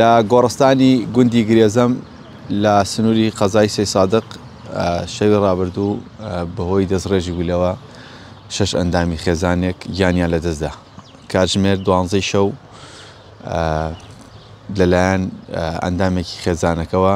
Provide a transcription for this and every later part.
لە گۆڕستانی گوندی گرێزەم لە سنووری قەزای سەیسادق شەوی ڕابردوو بەهۆی دەستڕێژی گولەوە شەش ئەندامی خێزانێک گیانیان لەدەستدا کاتژمێر دوانزەی شەو لەلایەن ئەندامێکی خێزانەکەەوە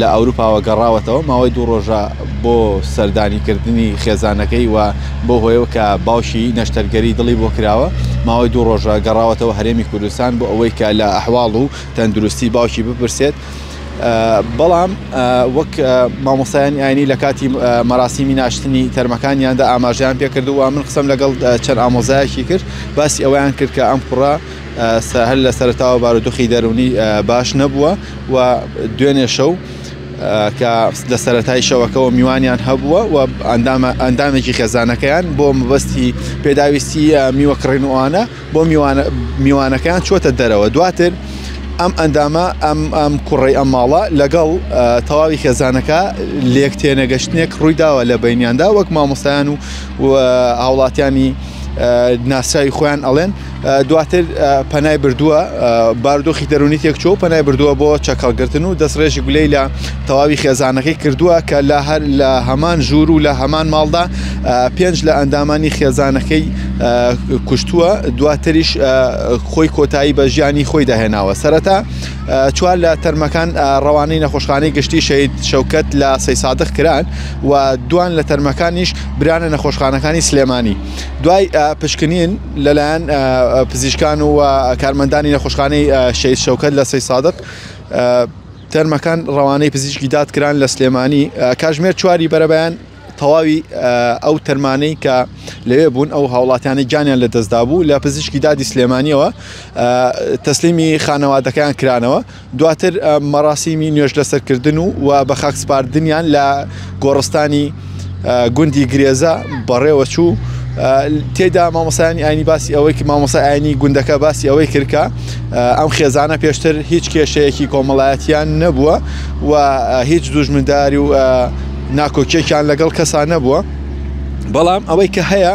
لە ئەوروپاوە گەڕاوەتەوە ماوەی دوو ڕۆژە بۆ سەردانیکردنی خێزانەکەی و بۆ هۆیەوە کە باوشی نەشتەرگەری دڵی بۆ کراوە ماوەی دوو ڕۆژە گەڕاوەتەوە هەرێمی کوردستان بۆ ئەوەی کە لە ئەحواڵ و تەندروستی باوکی بپرسێت بەڵام وەک مامۆسایانی ئاینی لە کاتی مەراسیمی ناشتنی تەرمەکانیاندا ئاماژیان پێکردووە من قسم لەگەڵ چەند ئامۆزایەکی کرد باسی ئەویان کرد کە ئەم کوڕە سە هەر لە سەرەتاوە بارودوخی دەرونی باش نەبووە و دوێنێ شەو کە لە سەرەتای شەوەکەەوە میوانیان هەبووە و ئەندامێکی خێزانەکەیان بۆ مەبەستی پێداویستی میوە کڕێنوانە بۆ میوانەکەیان چۆتە دەرەوە دواتر ئەم ئەندامە ئەم ئەم کوڕی ئەم ماڵە لەگەڵ تەواوی خێزانەکە لێک تێنەگەشتنێک ڕوویداوە لە بینیاندا وەک مامۆستایان و هاوڵاتیانی ناسراوی خۆیان ئەڵێن دواتر پەنای بردووە باردۆخی دەرونی تێکچۆ پەنای بردووە بۆ چەکەڵگرتن و دەستڕێژی گولەی لە تەواوی خێزانەکەی کردووە کە لە هەر لە هەمان ژوور و لە هەمان ماڵدا پێنج لە ئەندامانی خێزانەکەی کوشتووە دواتریش خۆی کۆتایی بە ژیانی خۆی داهێناوە سەرەتا چوار لە تەرمەکان ڕەوانەی نەخۆشخانەی گشتی شەید شەوکەت لە سەی سادق کران و دوان لە تەرمەکانیش برانە نەخۆشخانەکانی سلێمانی دوای پشکنین لەلایەن پزیشکان و کارمەندانی نەخۆشخانەی شەید شەوکەت لە سەیسادق تەرمەکان ڕەوانەی پزیشکی داد کران لە سلێمانی کاژمێر چواری بەرەبەیان تەواوی ئەو تەرمانەی کە لەوێ بوون ئەو هاوڵاتیانی گیانیان لە دەستدا بوو لە پزیشکی دادی سلێمانیەوە تەسلیمی خانەوادەکەیان کرانەوە دواتر مەراسیمی نوێژ لەسەر کردن و و بە خاک سپاردنیان لە گۆڕستانی گوندی گرێزە بەڕێوە چوو تێدا مامۆسایانی ئاینی باسی ئەوەی کە مامۆسای ئاینی گوندەکە باسی ئەوەی کردکە ئەم خێزانە پێشتر هیچ کێشەیەکی کۆمەڵایەتیان نەبووە و هیچ دوژمنداری و ناکۆکیێکیان لەگەڵ کەسان نەبووە بەڵام ئەوەی کە هەیە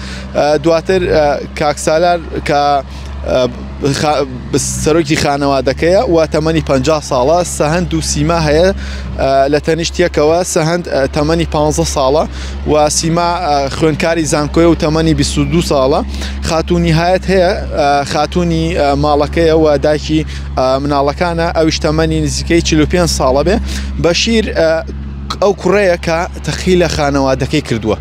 دواتر کاک سالار کە سەرۆکی خانەوادەکەیە و تەمەنی 50 ساڵە سەهند و سیما هەیە لە تەنیشتەکەوە سەهند تەمەنی 15 ساڵە و سیما خوێنکاری زانکۆی و تەمەنی 22 ساڵە خاتونی هاەت هەیە خاتونی ماڵەکەیە و داکی مناڵەکانە ئەوش تەمەنی نزیکەی 45 ساڵە بێ بەشیر ئەو کوڕەیە کە تەخی لە خانەوادەکەی کردووە.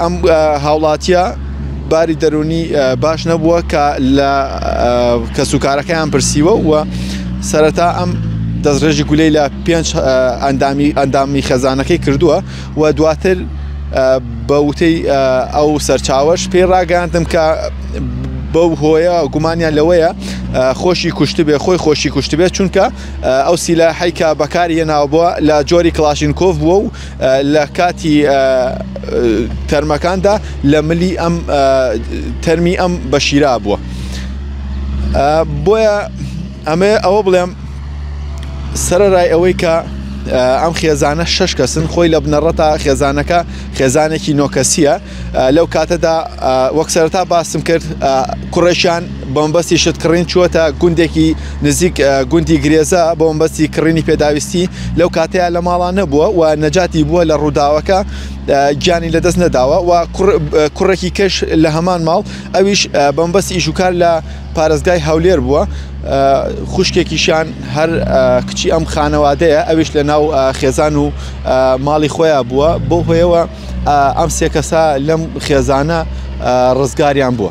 ئەم هاوڵاتیە باری دەرونی باش نەبووە کە لە کەسوکارەکەیان پرسیوە و سەرەتا ئەم دەستڕێژی گولەی لە پێنج ئەندامی ئەندامی خەزانەکەی کردووە و دواتر بە وتەی ئەو سەرچاوەش پێی ڕاگەاندم کە بەو هۆیە گومانیان لەوەیە خۆشی کوشتبێ خۆی خۆشی کوشتبێت چونکە ئەو سیلا حیکا بەکاری هێناوە بووە لە جۆری کلاشینکۆف بووە و لە کاتی تەرمەکاندا لە ملی ئەم تەرمی ئەم بە شیرا بووە بۆیە ئەمێ ئەوە بڵێم سەرەرای ئەوەی کە ئەم خێزانە شش کەسن خۆی لە بنەڕەتا خێزانەکە خێزانێکی نۆکەسیە لەو کاتەدا وەک سەرەتا باسم کرد کوڕێکیان بۆمبەستی شت کڕین چووەتە گوندێکی نزیک گوندی گرێزە بۆمبەستی کڕینی پێداویستی لەو کاتەیە لە ماڵان نەبووە و نەجاتی بووە لە ڕووداوەکە گیانی لەدەست نەداوە و کوڕێکی کەش لە هەمان ماڵ ئەویش بەمبەستی ئیشوکار لە پارێزگای هەولێر بووە خوشکێکیشان هەر کچی ئەم خانەوادەیە ئەویش لە ناو خێزان و ماڵی خۆیان بووە بۆ هۆیەوە ئەم سێ کەسە لەم خێزانە ڕزگاریان بووە.